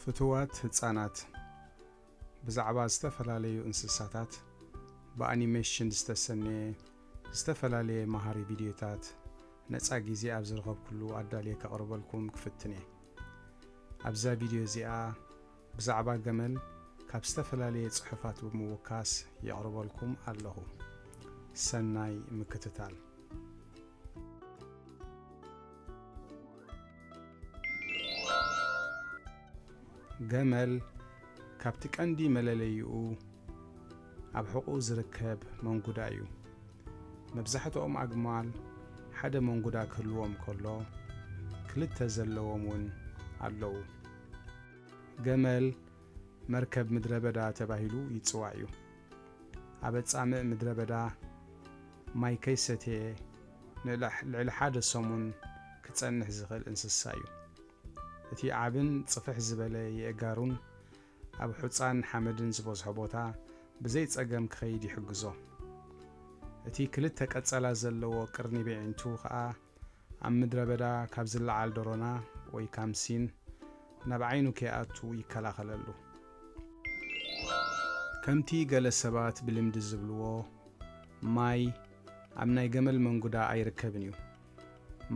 ፍቱዋት ህጻናት፣ ብዛዕባ ዝተፈላለዩ እንስሳታት ብኣኒመሽን ዝተሰነየ ዝተፈላለየ መሃሪ ቪድዮታት ነጻ ግዜ ኣብ ዝረኸብኩሉ ኣዳልየ ከቕርበልኩም ክፍትን እየ። ኣብዛ ቪድዮ እዚኣ ብዛዕባ ገመል ካብ ዝተፈላለየ ጽሑፋት ብምውካስ የቕርበልኩም ኣለኹ። ሰናይ ምክትታል። ገመል ካብቲ ቀንዲ መለለይኡ ኣብ ሕቑኡ ዝርከብ መንጉዳ እዩ መብዛሕትኦም ኣግማል ሓደ መንጉዳ ክህልዎም ከሎ ክልተ ዘለዎም እውን ኣለዉ ገመል መርከብ ምድረ በዳ ተባሂሉ ይፅዋዕ እዩ ኣበ ጻምእ ምድረ በዳ ማይ ከይሰተየ ንልዕሊ ሓደ ሰሙን ክጸንሕ ዝኽእል እንስሳ እዩ። እቲ ዓብን ጽፍሕ ዝበለ የእጋሩን ኣብ ሑጻን ሓመድን ዝበዝሖ ቦታ ብዘይ ጸገም ክኸይድ ይሕግዞ። እቲ ክልተ ቀጸላ ዘለዎ ቅርኒብ የዒንቱ ከኣ ኣብ ምድረ በዳ ካብ ዝለዓል ደሮና ወይ ካምሲን ናብ ዓይኑ ከይኣቱ ይከላኸለሉ። ከምቲ ገለ ሰባት ብልምዲ ዝብልዎ ማይ ኣብ ናይ ገመል መንጉዳ ኣይርከብን እዩ።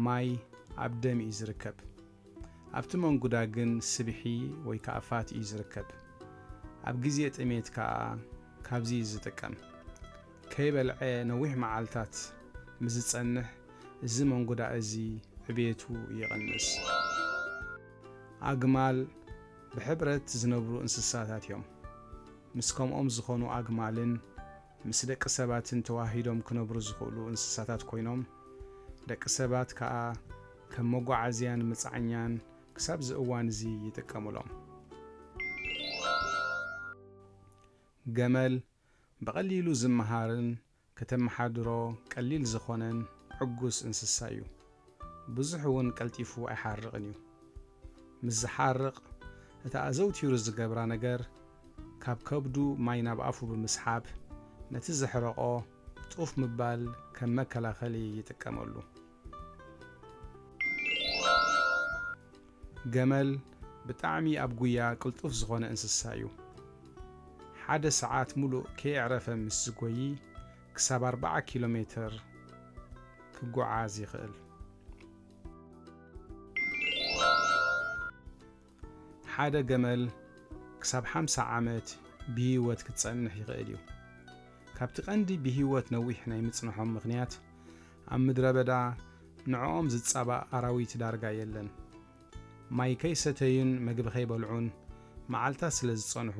ማይ ኣብ ደም እዩ ዝርከብ። ኣብቲ መንጉዳ ግን ስብሒ ወይ ከኣ ፋት እዩ ዝርከብ። ኣብ ግዜ ጥሜት ከኣ ካብዚ እዩ ዝጥቀም። ከይበልዐ ነዊሕ መዓልታት ምስ ዝጸንሕ እዚ መንጉዳ እዚ ዕብየቱ ይቕንስ። ኣግማል ብሕብረት ዝነብሩ እንስሳታት እዮም። ምስ ከምኦም ዝኾኑ ኣግማልን፣ ምስ ደቂ ሰባትን ተወሃሂዶም ክነብሩ ዝኽእሉ እንስሳታት ኮይኖም፣ ደቂ ሰባት ከኣ ከም መጓዓዝያን መጻዕኛን ክሳብ'ዚ እዋን'ዚ ይጥቀሙሎም። ገመል፣ ብቐሊሉ ዝመሃርን ከተመሓድሮ ቀሊል ዝኾነን ዕጉስ እንስሳ'ዩ። ብዙሕ እውን ቀልጢፉ ኣይሓርቕን እዩ። ምስ ዝሓርቕ፣ እታ ኣዘውቲሩ ዝገብራ ነገር ካብ ከብዱ ማይ ናብ ኣፉ ብምስሓብ፣ ነቲ ዘሕረቖ ጡፍ ምባል ከም መከላኸሊ ይጥቀመሉ። ገመል ብጣዕሚ ኣብ ጉያ ቅልጡፍ ዝኾነ እንስሳ እዩ። ሓደ ሰዓት ሙሉእ ከየዕረፈ ምስ ዝጎዪ፣ ክሳብ ኣርባዓ ኪሎ ሜተር ክጎዓዝ ይኽእል። ሓደ ገመል ክሳብ ሓምሳ ዓመት ብህይወት ክትጸንሕ ይኽእል እዩ። ካብቲ ቀንዲ ብህይወት ነዊሕ ናይ ምጽንሖም ምኽንያት፣ ኣብ ምድረበዳ ንዕኦም ዝጻባእ ኣራዊት ዳርጋ የለን። ማይ ከይሰተዩን መግቢ ከይበልዑን መዓልታት ስለ ዝጸንሑ፣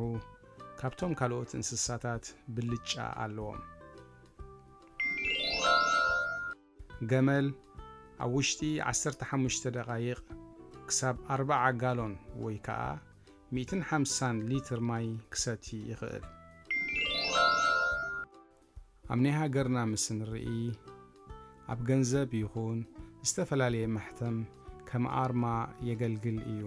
ካብቶም ካልኦት እንስሳታት ብልጫ ኣለዎም። ገመል ኣብ ውሽጢ ዓሰርተ ሓሙሽተ ደቓይቕ ክሳብ ኣርብዓ ጋሎን ወይ ከኣ ሚእትን ሓምሳን ሊትር ማይ ክሰቲ ይኽእል። ኣብ ናይ ሃገርና ምስ ንርኢ ኣብ ገንዘብ ይኹን ዝተፈላለየ ማሕተም ከም ኣርማ የገልግል እዩ።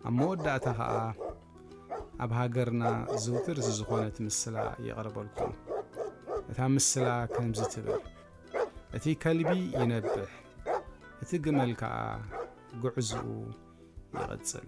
ኣብ መወዳእታ ከኣ ኣብ ሃገርና ዝውትር ዝዝኾነት ምስላ የቕርበልኩም። እታ ምስላ ከምዚ ትብል፣ እቲ ከልቢ ይነብሕ፣ እቲ ግመል ከኣ ጉዕዝኡ ይቕጽል።